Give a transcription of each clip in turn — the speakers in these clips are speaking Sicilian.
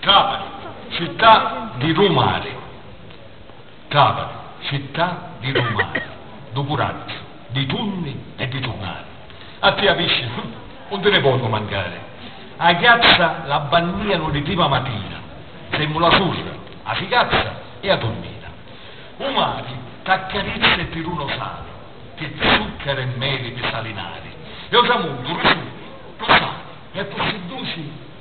Trapani, città di lu mari Trapani, città di lu mari Dû curaggiu, dî tunni e di turnari A tia piscina, uh, 'un ti ni vonnu mancari A ghiazza la bannìanu li prima matina Semu la surra, a figazza e a turmina U mari t'accarizza e ti duna u sali Pi zuccaru e meli pi salinari E u tramuntu, lu suli, lu sali E pi si duci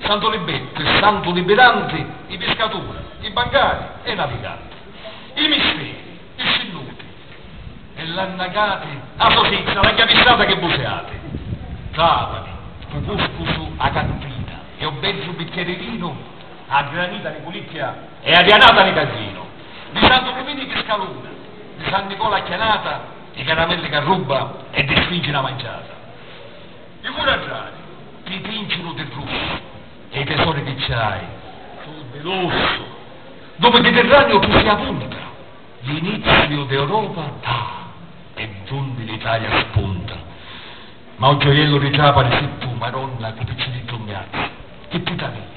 Santu Libettu e Santu Libiranti, i piscaturi, i bancari e i naviganti. I misteri, i scinnuti e l'annacati. A sosizza, la chiavissata che buseati. Trapani, stu cuscusu, a cantina e o bezzu bicchieri vinu, a granita ni culicchia e a dianata ni cagginu. Di Santu Lumini i piscaluna, di San Nicola a chianata, i caramelli c'arrubba e di Sfingi na manciata. Di cu raggiari? Ti tincinu di flussu. E i tesori chi ci hai su' di lussu. Ddu Miditirraniu tu si avunta. L'iniziu d'Europa ddà è d'unni l'Italia spunta. Ma u gioiellu di Trapani si tu, Maronna, cu picciriddu 'n miazza. Chi ti talìa?